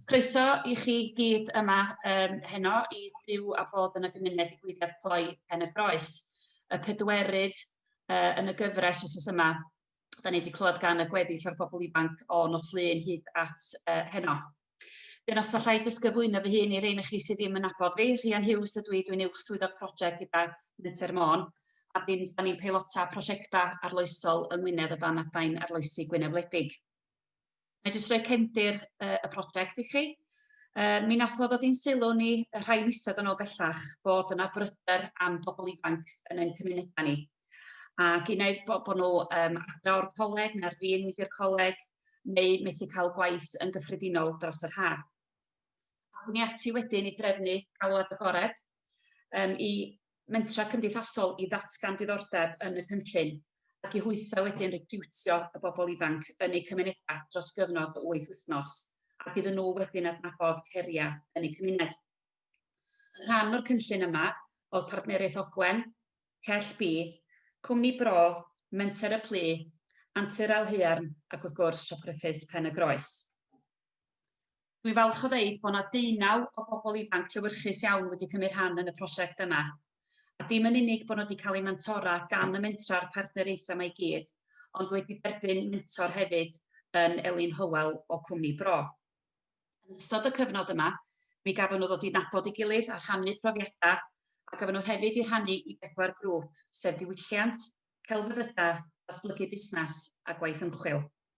Croeso i chi gyd yma um, heno i byw a bod yn y gymuned i digwyddiad cloi Pen y Groes, y pedwerydd uh, yn y gyfres os oes yma. Da ni wedi clywed gan y gweddill o'r bobl ifanc o nos lun hyd at uh, heno. Dyna os allai dysgyflwyno fy hun i rein chi sydd ddim yn abod fi. Rhian Hughes ydw i, dwi'n uwch swyddog prosiect gyda Menter Môn a dyn, da ni'n peilota prosiectau arloesol yng Ngwynedd o dan adain arloesi Gwynedd Wledig. Mae jyst rhoi cefndir y, y prosiect i chi. Uh, mi nath o ddod i'n sylw ni y rhai misod yn ôl bellach bod yna bryder am bobl ifanc yn ein cymunedau ni. Ac un o'r bod nhw um, adra o'r coleg neu'r fi'n mynd i'r coleg neu methu cael gwaith yn gyffredinol dros yr haf. Ac ni ati wedyn i drefnu galwad agored um, i mentrau cymdeithasol i ddatgan diddordeb yn y cynllun ac i hwythau wedyn recriwtio y bobl ifanc yn eu cymunedau dros gyfnod o wyth wythnos ac iddyn nhw wedyn adnabod heriau yn eu cymuned. Yn rhan o'r cynllun yma oedd Partneriaeth Ogwen, Cell B, Cwmni Bro, Menter y Plu, Antur Ael Haearn ac wrth gwrs Siop Ruffys Pen-y-groes. Dwi'n falch o ddeud bod 'na deunaw o bobl ifanc llewyrchus iawn wedi cymryd rhan yn y prosiect yma. A dim yn unig bod nhw wedi cael eu mentora gan y mentra a'r partneriaethau yma i gyd, ond wedi derbyn mentor hefyd yn Elin Hywel o Cwmni Bro. Yn ystod y cyfnod yma, mi gafon nhw ddod i nabod ei gilydd a rhannu profiadau, a gafon nhw hefyd i rhannu i bedwar grŵp, sef diwylliant, celfyddydau, datblygu busnes a gwaith ymchwil.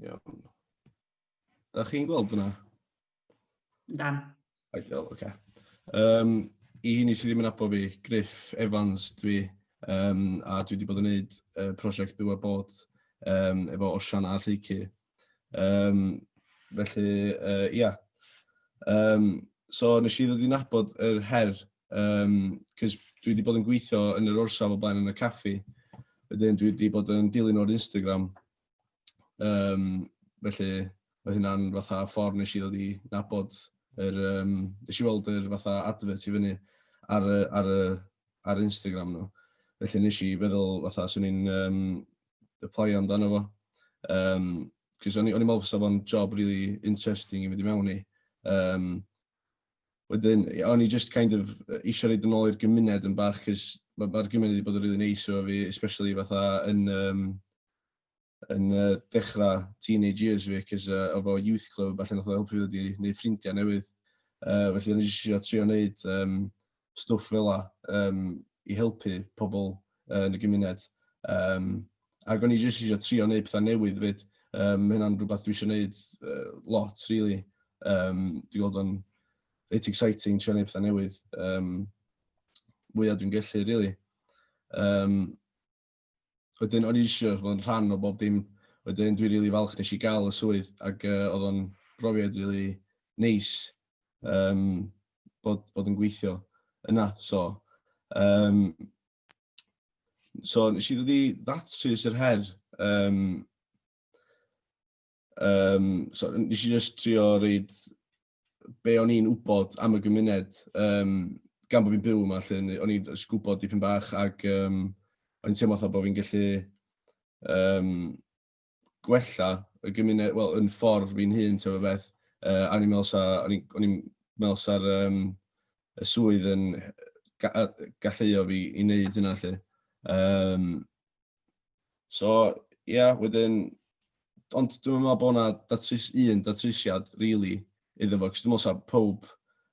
Iawn. Da chi'n gweld hwnna? Dan. Ideal, oce. Okay. Um, I hynny sydd ddim yn abo fi, Griff Evans dwi, um, a dwi wedi bod yn gwneud uh, prosiect byw a bod um, efo Osian a Lleicu Um, felly, uh, ia. Um, so nes i ddod i'n abod yr her, um, cys dwi wedi bod yn gweithio yn yr orsaf o blaen yn y caffi. Wedyn dwi wedi bod yn dilyn o'r Instagram. Um, felly, oedd hynna'n fatha ffordd nes i ddod i nabod yr, um, nes i weld yr fatha advert i fyny ar, ar, ar Instagram nhw. Felly nes i feddwl fatha swn i'n um, aplaio amdano fo. Um, Cys o'n i'n meddwl fysa fo'n job really interesting i fynd i mewn i. Um, wedyn, o'n i just kind of eisiau rhaid yn ôl i'r gymuned yn bach, cys mae'r ma gymuned wedi bod yn really neis o fi, especially fatha yn, um, yn uh, dechrau teenage years fi, cys uh, o fo youth club, allan o'ch helpu fi wedi gwneud ffrindiau newydd. Uh, felly, o'n i eisiau trio wneud um, stwff fela yym i helpu pobl yn y gymuned. Yym ac o'n i jyst eisiau trio wneud pethau newydd 'fyd. Yym ma' hynna'n rhywbeth dwi eisiau wneud uh, lot rili. Yym dwi'n gweld o'n reit exciting trio wneud pethau newydd. Yym mwya dwi'n gallu rili. Yym Wedyn o'n i jyst isio fod yn rhan o bob dim. Wedyn dwi'n rili falch nes i gael y swydd ac uh, oedd o'n brofiad rili neis um, bod, bod yn gweithio yna. So, um, so nes i ddod i ddatrys yr her um, Um, so, nes i just trio reid be o'n i'n wybod am y gymuned, um, gan bod fi'n byw yma, lle o'n i'n gwybod dipyn bach ac um, o'n i'n teimlo fatha bod fi'n gallu um, gwella y gymuned, wel, yn ffordd fi'n hun, ti'n fawr beth. Uh, a o'n i'n meddwl sa, o'n i'n meddwl sa'r um, y swydd yn ga, galluio fi i wneud hynna lle. Um, So, ie, yeah, wedyn, ond dwi'n meddwl bod yna datrys, un datrysiad, really, iddo fo, cos dwi'n meddwl sa pob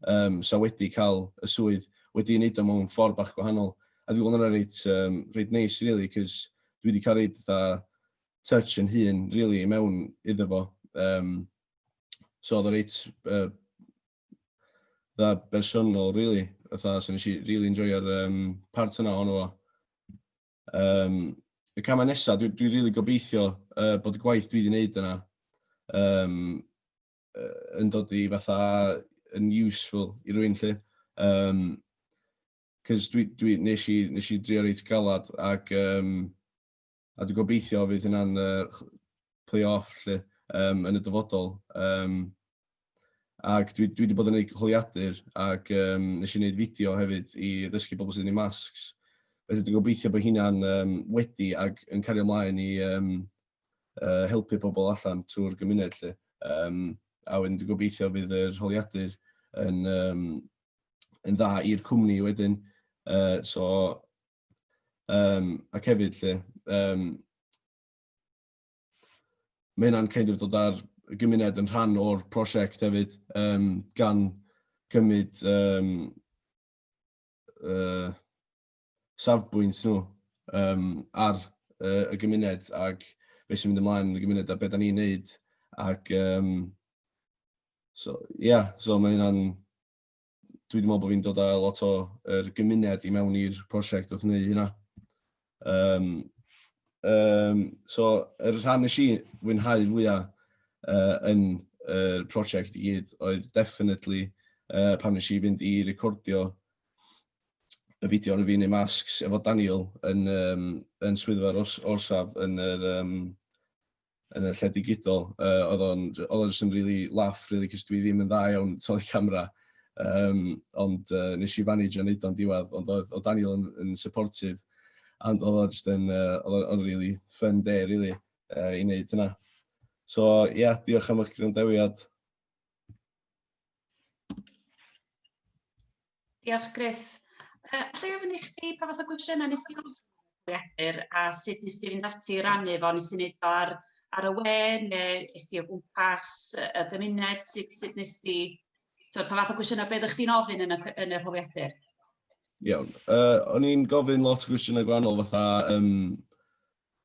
um, sa wedi cael y swydd wedi wneud o mewn ffordd bach gwahanol. A dwi'n gweld yna reit, um, reit neis, really, cos dwi wedi cael reit dda touch yn hun, really, i mewn iddo fo. Um, so oedd o reit uh, dda bersonol, really, fatha, so nes i really enjoyo'r um, part yna o'n fo. Um, y camau nesaf, dwi'n dwi rili really gobeithio uh, bod y gwaith dwi wedi wneud yna um, yn dod i fatha yn useful i rwy'n lle. Um, Cys dwi, dwi nes, i, nes i drio reit galad ac um, a dwi'n gobeithio fydd hynna'n uh, play off lle, um, yn y dyfodol. Um, Ac dwi, dwi wedi bod yn gwneud holiadur ac um, nes i wneud fideo hefyd i ddysgu bobl sydd yn ei masks. Felly dwi'n gobeithio bod hynna'n um, wedi ac yn cario ymlaen i um, uh, helpu pobl allan trwy'r gymuned. Lle. Um, a wedyn dwi'n gobeithio fydd yr holiadur yn, um, yn dda i'r cwmni wedyn. Uh, so, um, ac hefyd lle, um, mae hynna'n kind of dod ar y gymuned yn rhan o'r prosiect hefyd, um, gan cymryd um, uh, safbwynt nhw um, ar uh, y gymuned ac beth sy'n mynd ymlaen yn y gymuned a beth da ni'n neud. Ac, um, so, yeah, so mae hynna'n dwi wedi meddwl bod fi'n dod â lot o er, gymuned i mewn i'r prosiect wrth wneud hynna. Um, um, so, yr er rhan nes i fwynhau fwyaf uh, yn y uh, prosiect i gyd oedd definitely uh, pan nes i fynd i recordio y fideo yn y fi'n ei masks efo Daniel yn, um, yn swyddfa'r ors, orsaf yn yr um, yn y lle digidol, uh, oedd o'n just yn really laff, really, cys dwi ddim yn dda iawn toli camera. Um, ond uh, nes i fanage yn neud o'n diwedd, ond oedd, oedd Daniel yn, yn supportive, and oedd o'n just yn, uh, oedd o'n really fun day, really, uh, i wneud yna. So, ie, yeah, diolch am eich gwrandawiad. Diolch Griff. Uh, allai ofyn i chdi pa fath o gwestiynau nes ti bwriadur a sut nes ti fynd ati i rannu fo, nes ti wneud o ar, ar y we neu nes ti o gwmpas y gymuned, sut, sut nes ti, so, pa fath o gwestiynau beth ych chi'n ofyn yn y, yn y rholiadur? Iawn, uh, o'n i'n gofyn lot o gwestiynau gwannol fatha, um,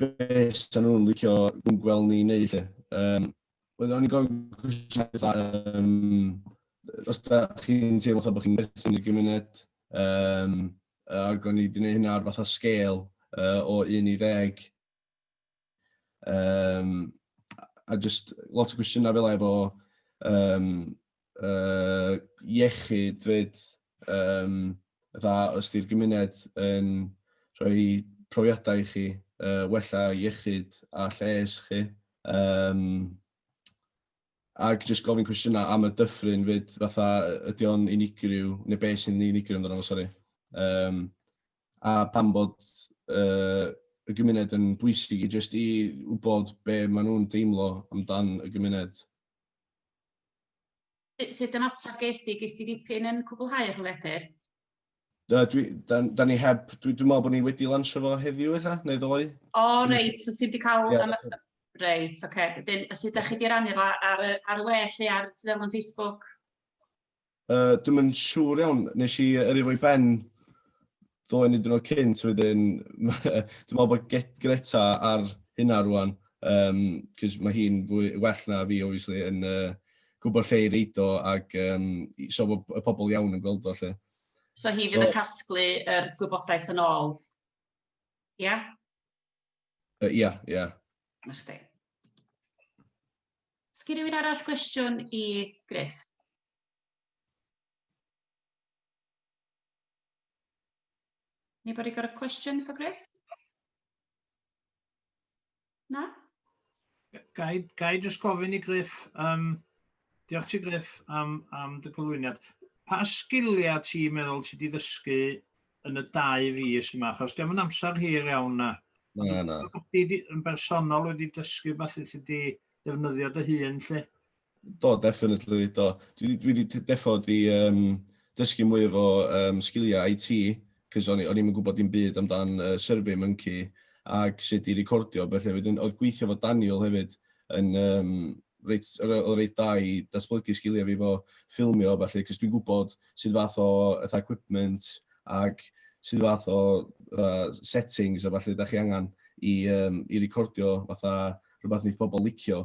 be sy'n nhw'n licio gweld ni wneud lle. Um, Oedd o'n i'n gofyn cwestiynau, um, os da chi'n teimlo bod chi'n berthyn i'r gymuned, um, ac o'n i wedi gwneud hynna ar fath o sgêl uh, o 1 i 10. Um, a just lot o gwestiynau fel efo um, uh, iechyd fyd, um, dda os di'r gymuned yn rhoi profiadau i chi, uh, wella iechyd a lles chi. Um, ac jyst gofyn cwestiynau am y dyffryn fyd, fatha ydy o'n unigryw, neu beth sy'n unigryw amdano fo, sori. Um, a pam bod uh, y gymuned yn bwysig i jyst i wybod be maen nhw'n deimlo amdan y gymuned. Sut, sut ymateb ges di? Ges di dipyn yn cwblhau'r hwledr? Da, dwi, da, da ni heb, dwi, dwi meddwl bod ni wedi lansio fo heddiw eitha, neu ddoe. O, oh, reit, so ti wedi cael... Yeah, am... Reit, oce. Okay. Dyn, a sut da chi wedi rannu fo ar, ar y we lle ar dudalen Facebook? Uh, dwi'n mynd siŵr iawn, nes i yrru fo i ben ddoen i dynod cynt wedyn, dwi'n meddwl bod Greta ar hynna rwan, um, cys mae hi'n well na fi, obviously, yn uh, gwybod lle i reid o, ac um, so bod y pobl iawn yn gweld o, lle. So hi fydd so, yn casglu yr er gwybodaeth yn ôl? Ia? Yeah? Ia, uh, ia. Yeah, yeah. Na chdi. Sgyn rhywun arall gwestiwn i Griff? Anybody got a question for Griff? Na? Ga i, ga i just gofyn i Griff, um, diolch ti Griff am, am dy gyflwyniad. Pa sgiliau ti'n meddwl ti wedi ddysgu yn y dau fus yma? Achos dim yn amser hir iawn na. Na, na. Ti yn bersonol wedi dysgu beth i ti wedi defnyddio dy hun, lle? Do, definitely, do. Dwi 'di dwi 'di t- deffo 'di yym dysgu mwy efo yym sgilia IT, 'c'os o'n i o'n i'm yn gwbod dim byd amdan yy Survey Monkey ag sut i recordio a bellu, wedyn o'dd gweithio efo Daniel hefyd yn yym reit o' re- o' reit dda i datblygu sgilia fi 'fo ffilmio a ballu, 'c'os dwi'n gwbod sud fath o fatha equipment ag sud fath o yy settings a ballu 'dach chi angan i yym i recordio fatha rwbath neith pobol licio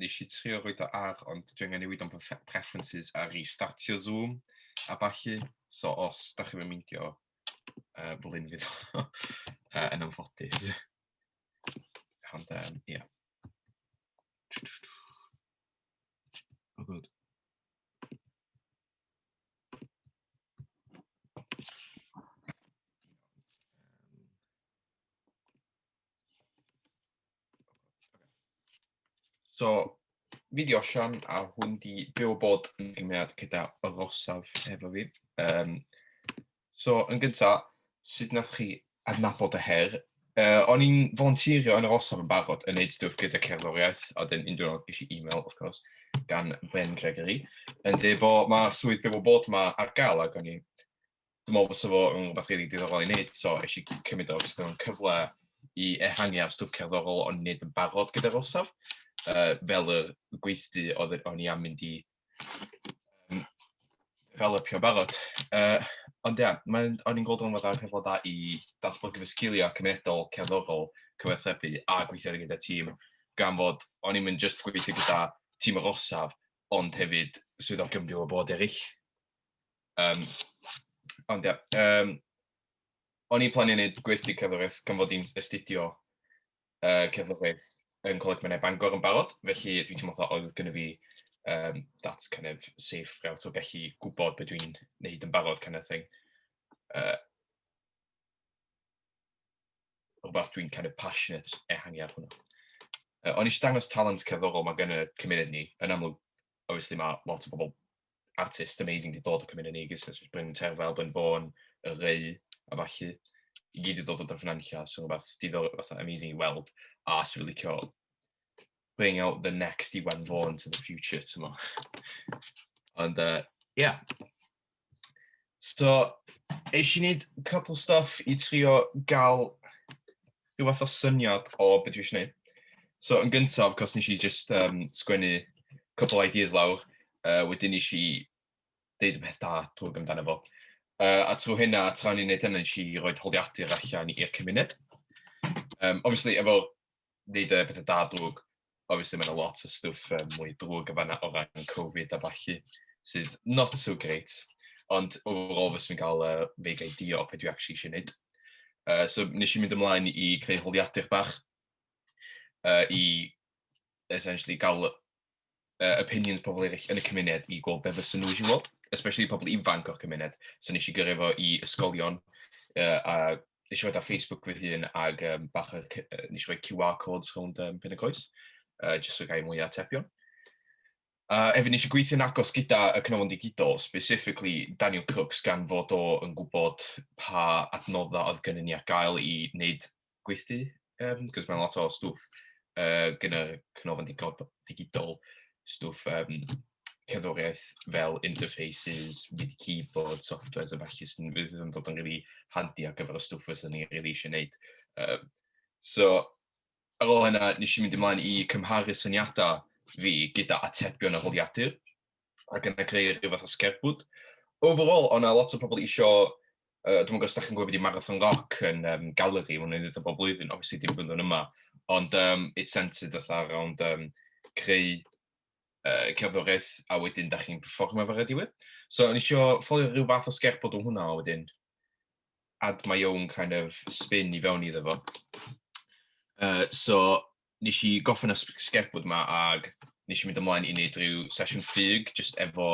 nes i trio roed o ar, ond dwi angen newid o'n preferences a restartio Zoom a ballu. So os da chi'n meindio, uh, fel un fydd o uh, yn anffodus. Ond, um, ia. Oh, good. So, fi di Osian, a hwn di byw bod yn gymuned gyda Rosaf efo fi. Um, so, yn gyntaf, sut nath chi adnabod y her? Uh, o'n i'n volunteerio yn yr Osaf yn barod yn neud stwff gyda cerddoriaeth, a dyn un diwrnod ges i e-mail, of course, gan Ben Gregory, yn dweud bod mae swydd byw o bod yma ar gael, ac o'n i'n dwi'n meddwl fysa fo yn rhywbeth rili diddorol i wneud, so eisiau i cymryd o, fysa fo'n cyfle i ehangu ar stwff cerddorol o'n wneud yn barod gyda'r orsaf, uh, fel y gweithdy oedd o'n i am mynd i um, fel y pio barod. Uh, ond ia, yeah, o'n i'n gweld o'n fod ar cyfle da i datblygu fy sgiliau cymunedol, cerddorol, cyfathrebu a gweithio gyda tîm, gan fod o'n i'n mynd just gweithio gyda tîm yr orsaf, ond hefyd swyddogion byw o bod eraill. Um, ond ia, um, o'n i'n plannu wneud gweithdy cerddoriaeth gan fod i'n astudio uh, cerddoriaeth yn Coleg Menai Bangor yn barod, felly dwi'n teimlo fatha oedd gyda fi um, that kind of safe route o gallu gwybod beth dwi'n neud yn barod kind of thing. Uh, rhywbeth dwi'n kind of passionate ehangu ar hwnna. Uh, o'n eisiau dangos talent cerddorol mae gen y cymuned ni, yn amlwg, obviously mae lot o bobl artist amazing di dod o Cymru Negus, so just Bryn Terfel, Bryn Bôn, y Reu, a falle, i gyd i dod o Dyffryn Anlla, so rhywbeth diddor, fatha amazing i weld, a sy'n really licio bring out the next i Iwan Fôn to the future, ti'n mo. Ond, uh, yeah. So, eisiau wneud couple stuff i trio gael rhyw fath o syniad o be dwi eisiau wneud. So yn gyntaf, cos nes i just um, sgwennu cwbl ideas lawr, uh, wedyn nes i deud y peth da twg amdano fo. Uh, a trwy hynna, tra ni'n neud hynny, nes i roi holiadur allan i'r cymuned. Um, obviously, efo neud y pethau da drwg, obviously mae'n lot o stwff um, mwy drwg yn fanna o ran Covid a falle sydd not so great. Ond overall fes fi'n cael uh, vague idea o beth dwi actually eisiau gwneud. Uh, so nes i mynd ymlaen i creu holiadur bach uh, i essentially gael uh, opinions pobl eraill yn y cymuned i gweld beth fysa nhw eisiau weld, especially pobl ifanc o'r cymuned. So nes i gyrru fo i ysgolion uh, a nes i roi ar Facebook fy hun ag um, bach o, nes i roi QR codes rhwng um, pen y coes, uh, jyst o gael mwy o atebion. Uh, efo nes i gweithio'n agos gyda y cnofon digidol, specifically Daniel Crooks, gan fod o yn gwybod pa adnoddau oedd gen i ar gael i wneud gweithdy, um, cos mae'n lot o stwff uh, gen y cnofon digidol, stwff um, cerddoriaeth fel interfaces, with keyboard, softwares a falle sy'n fydd yn dod yn rili handi ar gyfer y stwff fysa ni rili eisiau gwneud. Um, so, ar ôl hynna, nes i mynd ymlaen i cymharu syniadau fi gyda atebion a holiadur, ac yna creu rhyw fath o sgerbwd. Overall, o'na lot o pobl eisiau uh, dwi'n gwybod os da chi'n gwybod beth i Marathon Rock yn um, galeri, mae'n edrych bob blwyddyn, obviously dim blwyddyn yma, ond um, it's centered fatha around um, creu uh, cerddoriaeth a wedyn da chi'n performa fe rediwedd. So o'n eisiau ffolio rhyw fath o sgerbod o hwnna a wedyn add my own kind of spin i fewn iddo fo. Uh, so nes i goffin y sgerbod yma ag nes i mynd ymlaen i wneud rhyw sesiwn ffug just efo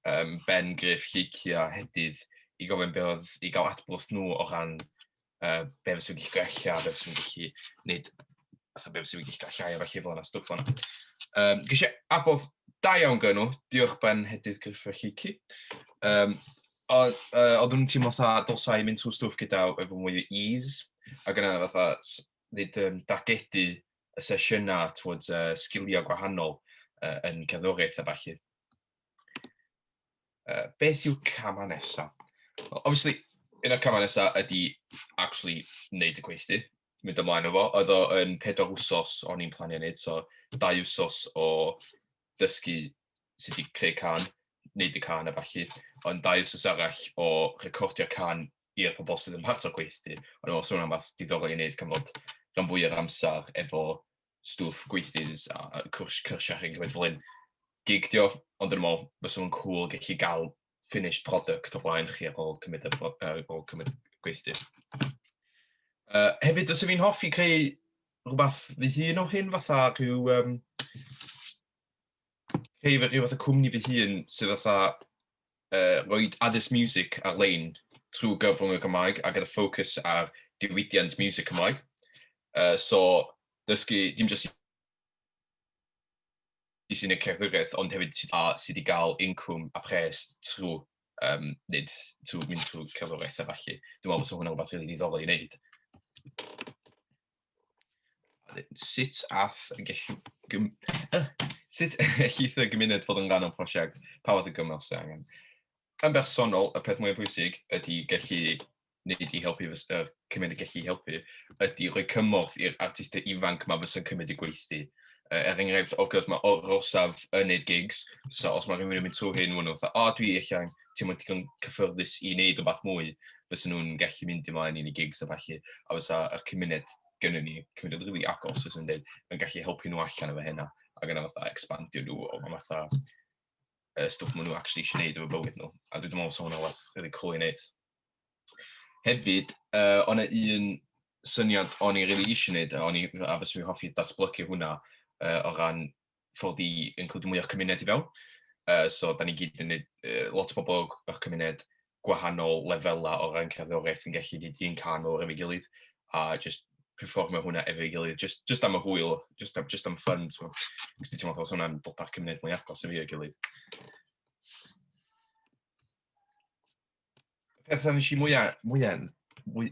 um, Ben Griff, Lleiki a Hedydd i gofyn beth oedd i gael adborth nhw o ran uh, be fes i'n gallu gwella, be fes i'n gallu wneud, fatha be fes i'n gallu gallai a felly fel yna, stwff o'na. Um, Gys i abodd da iawn gynnu, diolch Ben Hedydd Griffith Llici. Um, oedd nhw'n teimlo fatha dylsau mynd trwy stwff gyda efo mwy o ease, ac yna fatha ddyd um, dagedu y sesiynau twyd uh, sgiliau gwahanol uh, yn cerddoriaeth a falle. uh, beth yw camau nesaf? Well, obviously, un o'r camau nesaf ydy actually wneud y gweithdy, mynd ymlaen o fo. Oedd o yn pedwar wsos o'n i'n planio wneud, so dau wsos o dysgu sut i creu can, wneud y can a falle, ond dau wsos arall o recordio can i'r pobol sydd yn part o'r gweithdy. Ond os hwnna'n fath diddorol i wneud, gan fod rhan fwy o'r amser efo stwff gweithdydd a, a cwrs cyrsiau chi'n cymryd fel hyn. Gig dio, ond yn ymol, fes o'n cool gallu gael finished product o flaen chi ar ôl cymryd, ar ôl cymryd gweithdydd. Uh, hefyd, os fi'n hoffi creu rhywbeth fy hun o hyn, fatha rhyw... Um, creu rhyw fath o cwmni fy hun sydd fatha uh, roi addysg music ar-lein trwy gyfrwng y Gymraeg a gyda ffocws ar diwydiant music Cymraeg. Uh, so, dysgu dim jyst i sy'n y cerddoriaeth, ond hefyd sydd, a, sydd i gael incwm a pres trwy um, nid trwy mynd trwy cerddoriaeth a falle. Dwi'n meddwl bod hwnna'n rhywbeth rili really ddiddorol i wneud. Sut all y gellu... Gym... Sut gellith y gymuned fod yn rhan o'n prosiect? Pa fath o gyngor sydd angen? Yn bersonol, y peth mwyaf pwysig ydy gallu wneud i helpu fys- yr cymuned gallu helpu ydy rhoi cymorth i'r artistau ifanc ma fysa'n cymryd y gweithdy. Uh, er enghraifft, wrth gwrs, mae orsaf yn neud gigs, so os mae rhywun yn mynd trwy hyn, maen nhw'n fatha, o, dwi eich angen ti'n mynd digon cyffyrddus i wneud rhywbeth mwy, fysa nhw'n gallu mynd ymlaen i'n i gigs a falle, a fysa yr cymuned gyda ni, cymuned rili really agos, os yn dweud, yn gallu helpu nhw allan efo hynna, ac yna fatha expandio nhw o fan fatha uh, stwff maen nhw actually eisiau gwneud efo bywyd nhw. A dwi'n meddwl sôn o waith rili cool i wneud. Hefyd, uh, o'n un syniad o'n i'n rili really eisiau wneud, a, o'n i, a fes fi hoffi datblygu hwnna uh, o ran fod i include mwy o'ch cymuned i fewn. Uh, so, da ni gyd yn neud, uh, lot o bobl o'ch cymuned gwahanol lefelau o ran cerddoriaeth yn gallu neud un can o'r efo'i gilydd, a just performio hwnna efo'i gilydd, just, just am y hwyl, just, am, just am ffyn, so, gwrs ti'n meddwl, hwnna'n dod â'r cymuned mwy agos efo'i gilydd. y peth a nes i mwya mwya'm mwy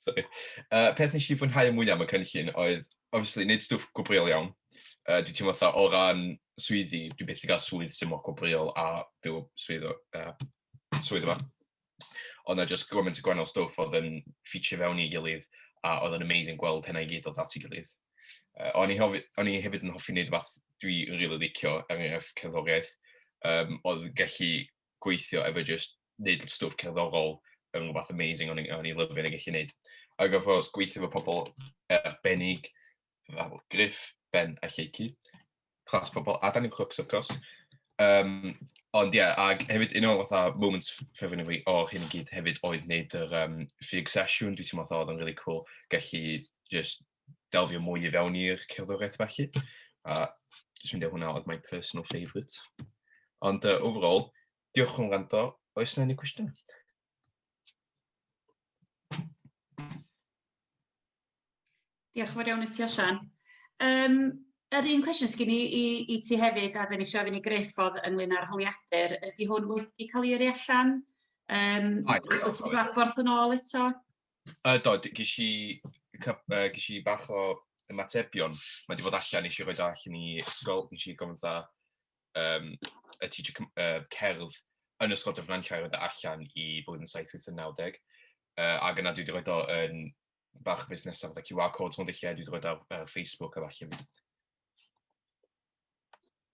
sori yy peth nes i fwynhau mwya' am y cynllun oedd obviously neud stwff gwobrwyol iawn yy dwi teimlo fatha o ran swyddi dwi byth 'di ga'l swydd sy mor gwobrwyol a byw y swydd o yy swydd yma o'dd 'na jyst gymaint o gwahanol stwff o'dd yn ffitio i fewn i gilydd a o'dd o'n amazing gweld hynna i gyd dod at ei gilydd yy o'n i hofi o'n i hefyd yn hoffi neud rwbath dwi rili licio er enghraifft cerddoriaeth yym o'dd yn gallu gweithio efo just neud stwff cerddorol yn rhywbeth amazing o'n i'n lyfio yn ei gallu neud. Ac of course, gweithio efo pobl arbennig, fel Griff, Ben a Lleiki, clas pobl, a Danny Crooks, of course. Um, ond ie, yeah, ac hefyd un o'r fatha moments ffefryn i fi o hyn i gyd hefyd oedd wneud yr um, ffug sesiwn, dwi'n teimlo oedd yn really cool, gallu just delfio mwy i fewn i'r cerddoriaeth felly. A dwi'n ffeindio hwnna oedd my personal favourite. Ond uh, overall, diolch yn rando. Oes yna unrhyw cwestiwn? Diolch yn fawr iawn i ti, Osian. Um, Yr un cwestiwn sgyn i, i, i ti hefyd, a fe nes i ofyn i Griff oedd ynglyn â'r holiadur, ydy hwn wedi cael ei yrru allan? Um, wyt ti'n gwaborth yn ôl eto? Yy do, d- ges i cyp- yy ges i bach o ymatebion. Mae 'di bod allan, nes i roid o allan i ysgol, nes i gofyn fatha yym y teacher Cym- yy cerdd yn ysgol Dyffryn Nantlle i roid o allan i blwyddyn saith wyth a naw deg yy ac yna dwi 'di roid o yn bach o busnesau fatha QR codes mewn dulliau, dwi 'di roid o ar ar Facebook a ballu hefyd.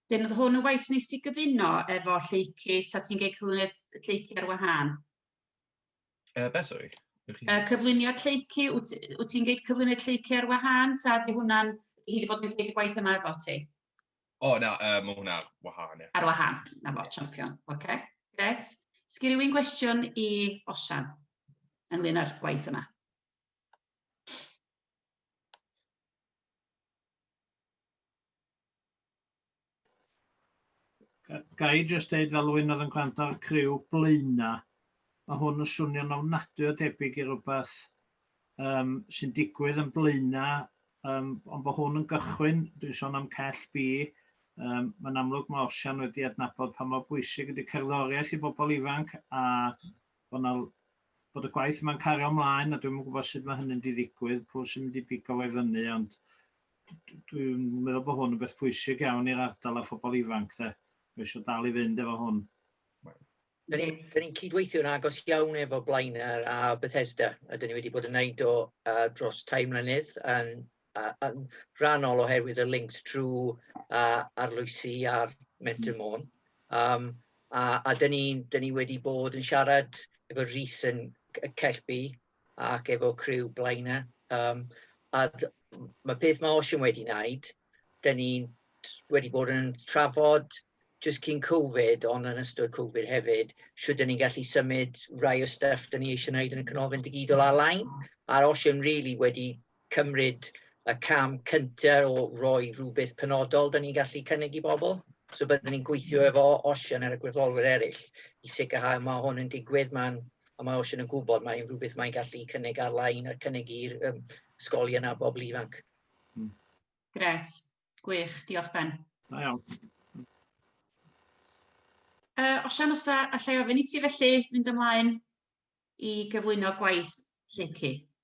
Dyn oedd hwn yn waith nes ti gyfuno efo Lleukit a ti'n gei cyflwyno Lleuki ar wahân? Uh, beth sori? Uh, cyflwyniad lleicu, wyt ti'n gweud cyflwyniad lleicu ar wahân, ta di hwnna'n, hi wedi bod yn gwneud y gwaith yma efo ti? O, oh, na, uh, mae hwnna ar wahân, ie. Ar wahân, na fo, champion. Oce, okay. gret. Sgyn rhywun gwestiwn i Osian ynglyn â'r gwaith yma? ga i jyst deud fel rwy'n oedd yn gwrando'r criw blaena, mae hwn yn swnio'n ofnadwy o debyg i rywbeth um, sy'n digwydd yn blaena, um, ond bod hwn yn gychwyn, dwi'n sôn am cell bi, um, mae'n amlwg mae Osian wedi adnabod pa mor bwysig ydy cerddoriaeth i bobl ifanc a bod, na, bod y gwaith mae'n cario ymlaen a dwi'n gwybod sut mae hynny'n diddigwydd, pwy sy'n mynd i bigo fe fyny, ond dwi'n meddwl bod hwn yn beth pwysig iawn i'r ardal a phobl ifanc, de. Mae eisiau dal i fynd efo hwn. Da ni'n ni cydweithio'n agos iawn efo Blaenau a Bethesda, a da ni wedi bod yn neud o uh, dros tai mlynedd yn, uh, yn rhannol oherwydd y links trwy uh, arloesi a'r Mentor Môn. Um, a, a da ni, da ni wedi bod yn siarad efo Rhys yn Cellby ac efo criw Blaenau yym a d- m- ma' peth ma' Osian wedi wneud, 'dan ni'n t- wedi bod yn trafod jyst cyn Covid ond yn ystod Covid hefyd, shwt 'dan ni'n gallu symud rai o stuff 'dan ni eisiau wneud yn y Canolfan Digidol ar-lein, a'r Osian rili wedi cymryd y cam cynta o roi rhywbeth penodol da ni'n gallu cynnig i bobl. So byddwn ni'n gweithio mm. efo Osian ar y gweddolwyr eraill i sicrhau mae hwn yn digwydd, mae'n a mae Osian yn gwybod mae'n rhywbeth mae'n gallu cynnig ar-lein a cynnig i'r um, ysgolion a bobl ifanc. Mm. Gret, gwych, diolch Ben. Da iawn. Uh, Osian, os allai ofyn i ti felly fynd ymlaen i gyflwyno gwaith Lleucu.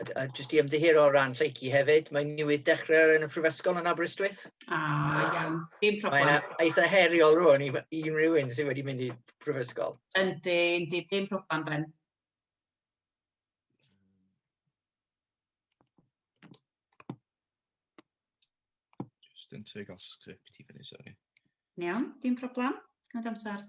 A, a jyst i ymddiheuro o ran lleici hefyd, mae newydd dechrau yn y Prifysgol yn Aberystwyth. Ah, iawn, dim problem. Mae'n eitha heriol rwan i unrhyw un sydd wedi mynd i Prifysgol. Yndi, yndi, dim problem, Ben. Just yn trio gael script i fyny, sori. Iawn, dim problem. Gwneud amser.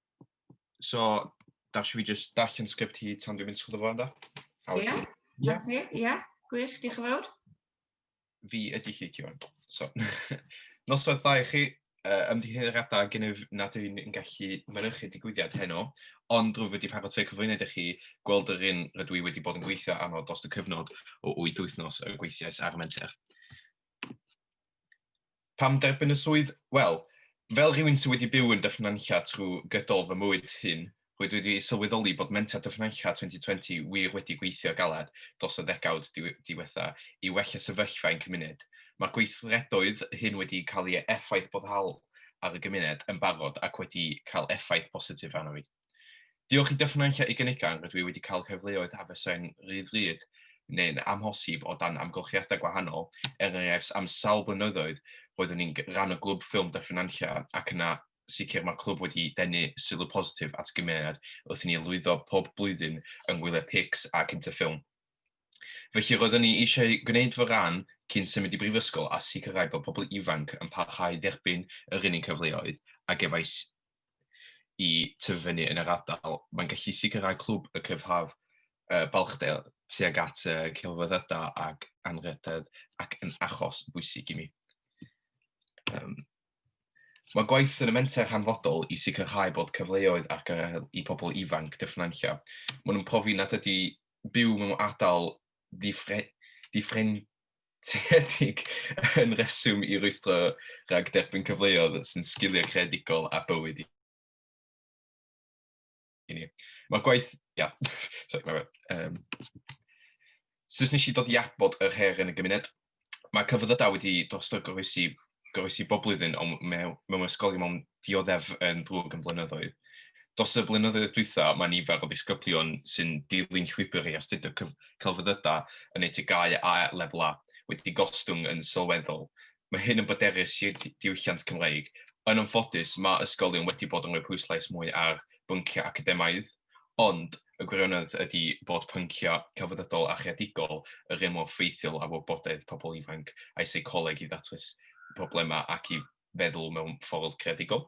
So, da si fi jyst darllen sgript hi tan dwi'n mynd sgwrdd o fo, ynddo? Ie, that's me, ie. Gwych, diolch yn fawr. Fi ydy chi, Ciwan. So, noswaith dda i chi, uh, ymddiheuriadau gennyf nad yw'n yn gallu mynychu digwyddiad heno, ond rwyf wedi paratoi'r cyflwyniad i chi gweld yr un rydw i wedi bod yn gweithio arno dros y cyfnod o 8 wythnos y gweithiais ar y menter. Pam derbyn y swydd? Wel, fel rhywun sydd wedi byw yn Dyffryn Nantlle trwy gydol fy mywyd hŷn, rwy wedi sylweddoli bod Menter Dyffryn Nantlle 2020 wir wedi gweithio galed dros y ddegawd diwetha' i wella sefyllfa ein cymuned. Mae'r gweithredoedd hyn wedi cael eu effaith boddhaol ar y gymuned yn barod ac wedi cael effaith bositif arno fi. Diolch i Dyffryn Nantlle i gynigan rydw i wedi cael cyfleoedd a fysai'n rhydd-rhydd neu'n amhosib o dan amgylchiadau gwahanol, er enghraifft am sawl blynyddoedd roeddwn i'n rhan o Glwb Ffilm Dyffryn Nantlle ac yna sicr mae'r clwb wedi denu sylw positif at y gymuned wrth i ni lwyddo pob blwyddyn yng ngwyliau PICS a Cyntaf Ffilm. Felly roeddwn ni eisiau gwneud fy rhan cyn symud i brifysgol a sicrhau bod pobl ifanc yn parhau i dderbyn yr un cyfleoedd a gefais i tyfu fyny yn yr ardal. Mae'n gallu sicrhau clwb y cryfhaf uh, balchdel tuag at uh, celfyddydau ac anrhydedd ac yn achos bwysig i mi. Um, mae gwaith yn y menter hanfodol i sicrhau bod cyfleoedd ar gael i pobl ifanc dyffnancio. Maen nhw'n profi nad ydy byw mewn ardal ddifre, ddifren, Seiliedig yn rheswm i rwystro rhag derbyn cyfleoedd sy'n sgiliau creadigol a bywyd i ni. Mae'r gwaith... Ia, sori, mae um, Sut nes i dod i abod yr her yn y gymuned? Mae cyfyddydau wedi drosto goroesi gofais i bob blwyddyn, ond mewn, mewn ysgolion mewn dioddef yn ddrwg yn blynyddoedd. Dos y blynyddoedd dwytha, mae nifer o ddisgyblion sy'n dilyn llwybr i astudio celfyddydau yn eu tygau a lefel A wedi gostwng yn sylweddol. Mae hyn yn boderus i'r diwylliant Cymreig. Yn anffodus, mae ysgolion wedi bod yn rhoi pwyslais mwy ar bynciau academaidd, Ond, y gwirionedd ydi bod pynciau celfyddydol a chreadigol yr un mor ffeithiol â wybodaeth pobl ifanc a'u seicoleg i ddatrys problemau ac i feddwl mewn ffordd creadigol.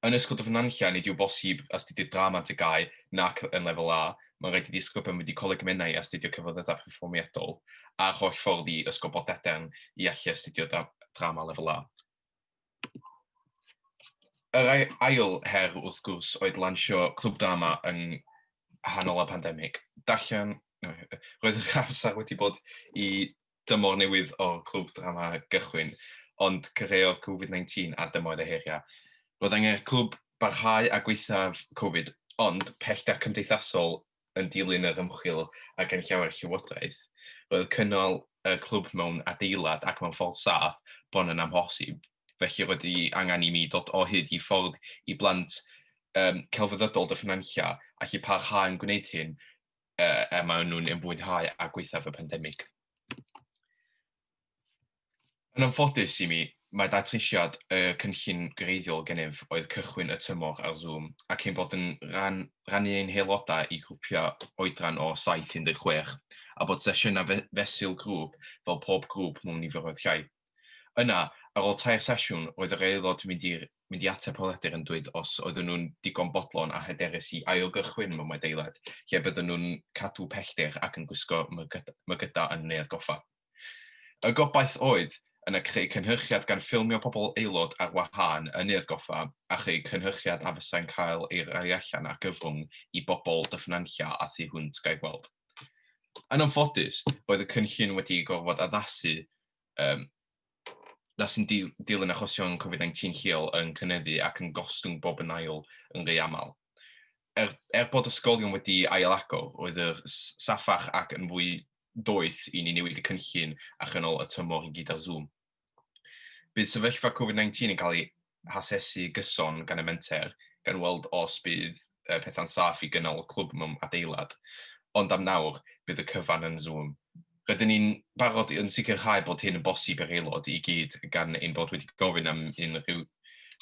Yn Ysgol Dyffryn Nantlle, nid yw bosib astudio drama yn TGAU nac yn Lefel A, mae'n rhaid i ddisgyblion fynd i Coleg y Menai a astudio Celfyddydau Perfformiadol a'r holl ffordd i Ysgol Bodadern i allu astudio drama Lefel A. Yr ail her, wrth gwrs, oedd lansio Clwb Drama yng nghanol y pandemig. Darllen, roedd yr amser wedi bod i dymor newydd o'r Clwb Drama gychwyn, ond cyfreodd Covid-19 a dymoedd y heriau. Roedd angen i'r clwb barhau â gweithaf Covid, ond pellter cymdeithasol yn dilyn yr ymchwil a ganllawi'r llywodraeth, roedd cynnal y clwb mewn adeilad ac mewn ffordd saff bron yn amhosib, felly roedd hi angen i mi dod o hyd i ffordd i blant um, celfyddydol Dyffryn Nantlla allu parhau yn gwneud hyn uh, er maen nhw'n ymwynhau a gweithaf y pandemig. Yn anffodus i mi, mae datrysiad y cynllun gwreiddiol gennyf oedd cychwyn y tymor ar Zoom ac ein bod yn rhan, rannu ein haelodau i grwpiau oedran o 7-16 a bod sesiynau fe, fesul grŵp fel pob grŵp mewn niferoedd llai. Yna, ar ôl tair sesiwn, roedd yr aelod mynd i'r mynd i ateb holiadur yn dweud os oedden nhw'n digon bodlon a hyderus i ailgychwyn mewn adeilad lle bydden nhw'n cadw pellter ac yn gwisgo mygydau yn Neuadd Goffa. Y gobaith oedd yna creu cynhyrchiad gan ffilmio pobl aelod ar wahân yn Neuadd Goffa a chreu cynhyrchiad a fysai'n cael ei roi allan ar gyfrwng i bobl Dyffryn Nantlle a thu hwnt gaelgweld. Yn anffodus, roedd y cynllun wedi gorfod addasu um, na sy'n dilyn achosion Covid-19 lleol yn cynyddu ac yn gostwng bob yn ail yn rhy aml. Er, er bod ysgolion wedi ail-agor, roedd yr saffach ac yn fwy doeth i ni newid y cynllun a chynol y tymor i gyd ar Zoom. Bydd sefyllfa Covid-19 yn cael ei hasesu gyson gan y menter, gan weld os bydd uh, pethau'n saff i gynnal clwb mewn adeilad. Ond am nawr, bydd y cyfan yn Zoom. Rydyn ni'n barod yn sicrhau bod hyn yn bosib i'r aelod i gyd gan ein bod wedi gofyn am unrhyw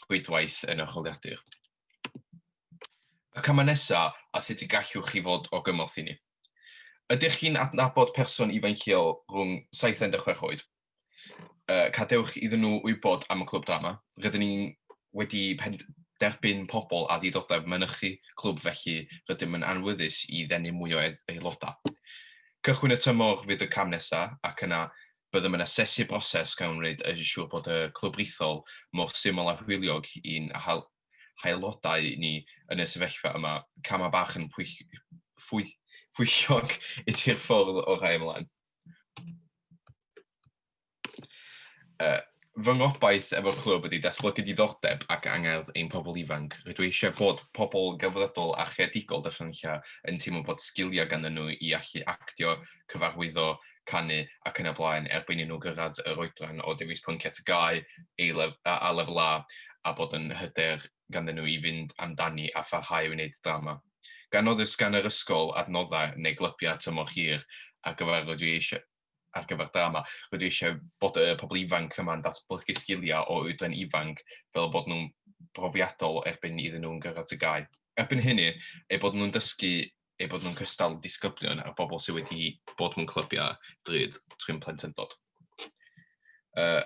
rhwydwaith yn yr holiadur. Y camau nesaf a sut y gallwch chi fod o gymorth i ni. Ydych chi'n adnabod person ifanc lleol rhwng 7 a 16 oed? uh, cadewch iddyn nhw wybod am y clwb drama. Rydyn ni wedi derbyn pobl a ddiddordeb mynychu clwb felly rydym yn anwyddus i ddenu mwy o aelodau. Cychwyn y tymor fydd y cam nesaf ac yna byddem yn asesu broses gan wneud y siŵr bod y clwb rithol mor syml a hwyliog i'n haelodau ni yn y sefyllfa yma. Camau bach yn pwyllog ydy'r ffordd o rai ymlaen. Uh, fy ngobaith efo'r clwb ydy datblygu diddordeb ac angerdd ein pobl ifanc. Rydw eisiau bod pobl gyfredol a chreadigol darllenilla yn teimlo bod sgiliau ganddyn nhw i allu actio, cyfarwyddo, canu ac yn y blaen erbyn i nhw gyrraedd yr oedran o dewis pynciau tygau a lefel A a bod yn hyder ganddyn nhw i fynd amdani a pharhau i wneud drama. Gan nad oes gan yr ysgol adnoddau neu glybiau tymor hir ar gyfer rydw i eisiau ar gyfer drama, rydw i eisiau bod y pobl ifanc yma'n datblygu sgiliau o oedran ifanc fel bod nhw'n brofiadol erbyn iddyn nhw'n gyrraedd tŷ gau. Erbyn hynny, eu bod nhw'n dysgu eu bod nhw'n cystal â disgyblion a'r bobl sydd wedi bod mewn clybiau drud trwy'n plentyndod. Uh,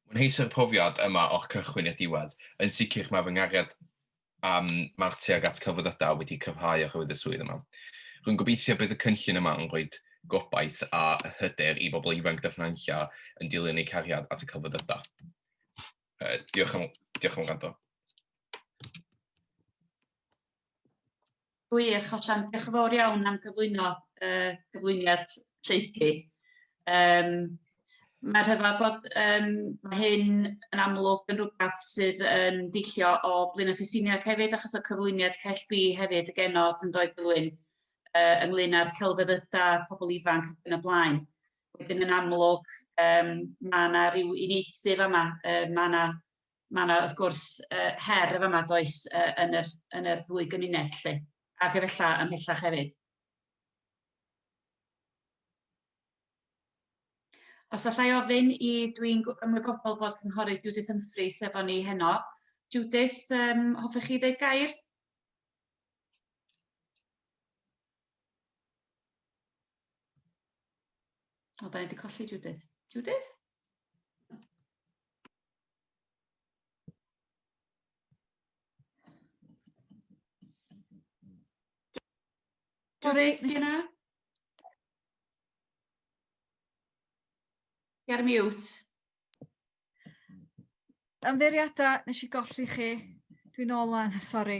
Mwynheusa'r profiad yma o'r cychwyn i'r diwedd. Yn sicr mae fy nghariad am mae'r tuag at celfyddydau wedi cryfhau oherwydd y swydd yma. Rwy'n gobeithio bydd y cynllun yma yn rhoi gobaith a hyder i bobl ifanc dyfnanlla yn dilyn eu cariad at y celfyddydau. Uh, diolch am, diolch am gwrando. Gwych, hollol. Diolch yn fawr iawn am gyflwyno y uh, cyflwyniad lleicu. Um, Mae rhyfedd bod um, mae hyn yn amlwg yn rhywbeth sydd yn deillio o Blin Ffisiniog hefyd, achos o cyflwyniad Cell B hefyd y genod yn doedd Blin, uh, ynglyn â'r celfyddydau, pobl ifanc ac yn y blaen. Wedyn yn amlwg, um, mae yna rhyw unieithydd yma, uh, mae yna mae yna wrth gwrs uh, her y fama does uh, yn, yr, yn yr ddwy gymuned lle, ac efella ymhellach hefyd. Os allai ofyn i, dwi'n ymwybodol bod cynghorydd Judith Humphreys efo ni heno. Judith, um, hoffech chi ddweud gair? O, da ni wedi colli Judith. Judith? Doris, ti yna? Ti ar mute. Ymddeiriadau, nes i golli chi. Dwi'n ôl wan, sori.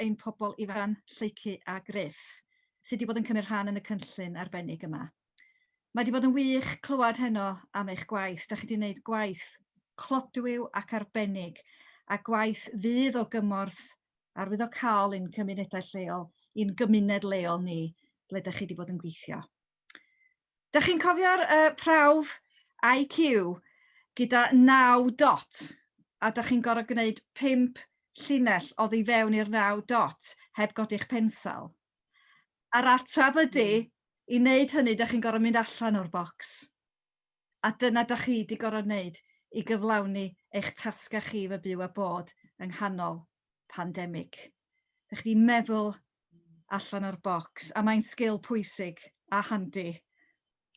ein pobl ifan, Lleucu a Gruff, sydd wedi bod yn cymryd rhan yn y cynllun arbennig yma. Mae wedi bod yn wych clywed heno am eich gwaith. Da chi wedi gwneud gwaith clodwiw ac arbennig, a gwaith fydd o gymorth arwyddocaol i'n cymunedau lleol, i'n gymuned leol ni, ble da chi wedi bod yn gweithio. Dych chi'n cofio'r uh, prawf IQ gyda 9 dot a dych chi'n gorfod gwneud 5 llinell o ddi fewn i'r 9 dot heb godi'ch pensel? A'r atab ydy, hmm. i wneud hynny, dych chi'n gorfod mynd allan o'r bocs. A dyna da chi di gorod neud i gyflawni eich tasga chi fo byw a bod yng nghanol pandemic. Da chi di meddwl allan o'r bocs a mae'n sgil pwysig a handi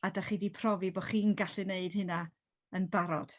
a da chi di profi bo chi'n gallu neud hynna yn barod.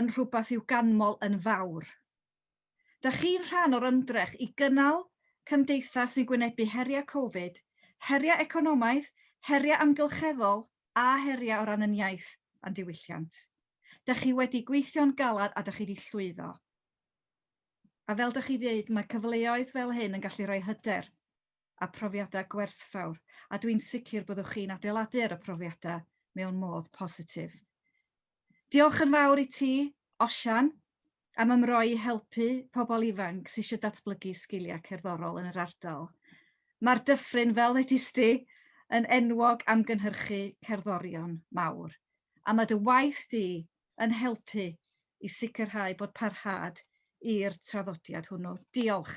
yn rhywbeth i'w ganmol yn fawr. Dych chi'n rhan o'r ymdrech i gynnal cymdeithas sy'n gwynebu heriau Covid, heriau economaidd, heriau amgylcheddol a heriau o ran ein iaith a'n diwylliant. Dych chi wedi gweithio'n galed a dych chi wedi llwyddo. A fel dych chi ddweud, mae cyfleoedd fel hyn yn gallu rhoi hyder a profiadau gwerthfawr a dwi'n sicr byddwch chi'n adeiladu ar y profiadau mewn modd positif. Diolch yn fawr i ti, Osian, am ymroi i helpu pobl ifanc sydd eisiau datblygu sgiliau cerddorol yn yr ardal. Mae'r dyffryn, fel ddedis di, yn enwog am gynhyrchu cerddorion mawr, a mae dy waith di yn helpu i sicrhau bod parhad i'r traddodiad hwnnw. Diolch,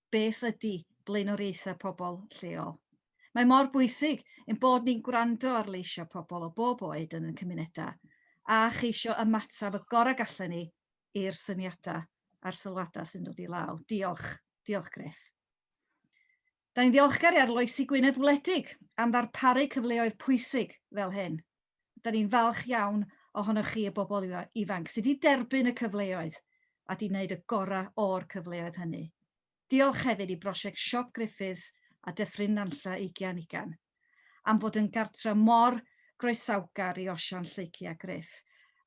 beth ydy blaenoriaethau pobl lleol. Mae mor bwysig ein bod ni'n gwrando ar leisiau pobl o bob oed yn ein cymunedau a cheisio ymateb y gorau gallen ni i'r syniadau a'r sylwadau sy'n dod i law. Diolch. Diolch, Griff. Da ni'n ddiolchgar i Arloesi Gwynedd Wledig am ddarparu cyfleoedd pwysig fel hyn. da ni'n falch iawn ohonoch chi y bobl ifanc sydd wedi derbyn y cyfleoedd a wedi gwneud y gorau o'r cyfleoedd hynny. Diolch hefyd i brosiect Siop Griffiths a Dyffryn Nantlle Ugian Ugain am fod yn gartref mor groesawgar i Osian, Lleucu a Gruff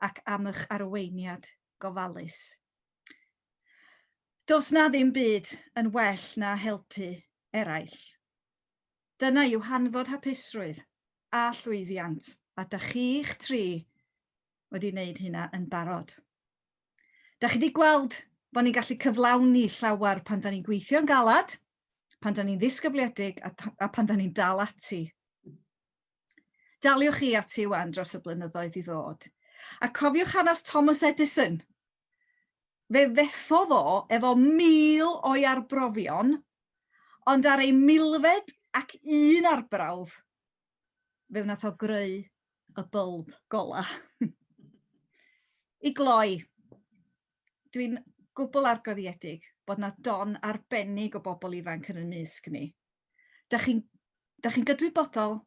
ac am eich arweiniad gofalus. Does 'na ddim byd yn well na helpu eraill. Dyna yw hanfod hapusrwydd a llwyddiant, a dych chi'ch tri wedi wneud hynna yn barod. Dych chi wedi gweld bod ni'n gallu cyflawni llawer pan da ni'n gweithio'n galad, pan da ni'n ddisgybliedig a, a pan da ni'n dal ati. Daliwch chi ati wan dros y blynyddoedd i ddod. A cofiwch hanes Thomas Edison, Fe fethodd o efo mil o'i arbrofion, ond ar ei milfed ac un arbrawf, fe wnaeth o greu y bylb gola. I gloi, dwi'n gwbl argyddiedig bod na don arbennig o bobl ifanc yn y mysg ni. Da chi'n da chi gydwybodol,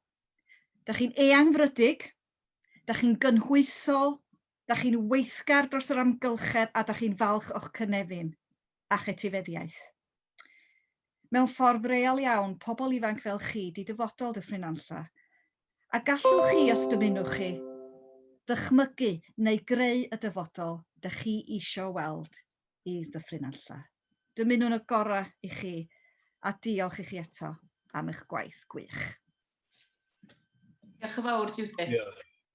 da chi'n eangfrydig, da chi'n gynhwysol, Da chi'n weithgar dros yr amgylchedd a da chi'n falch o'ch cynefin a'ch etifeddiaeth. Mewn ffordd real iawn, pobl ifanc fel chi 'di dyfodol Dyffryn Nantlle. A gallwch chi, os dymunwch chi, ddychmygu neu greu y dyfodol dych chi isio weld i Ddyffryn Nantlle. Dymunwn y gorau i chi a diolch i chi eto am eich gwaith gwych. Diolch yn fawr, Judith. Diolch.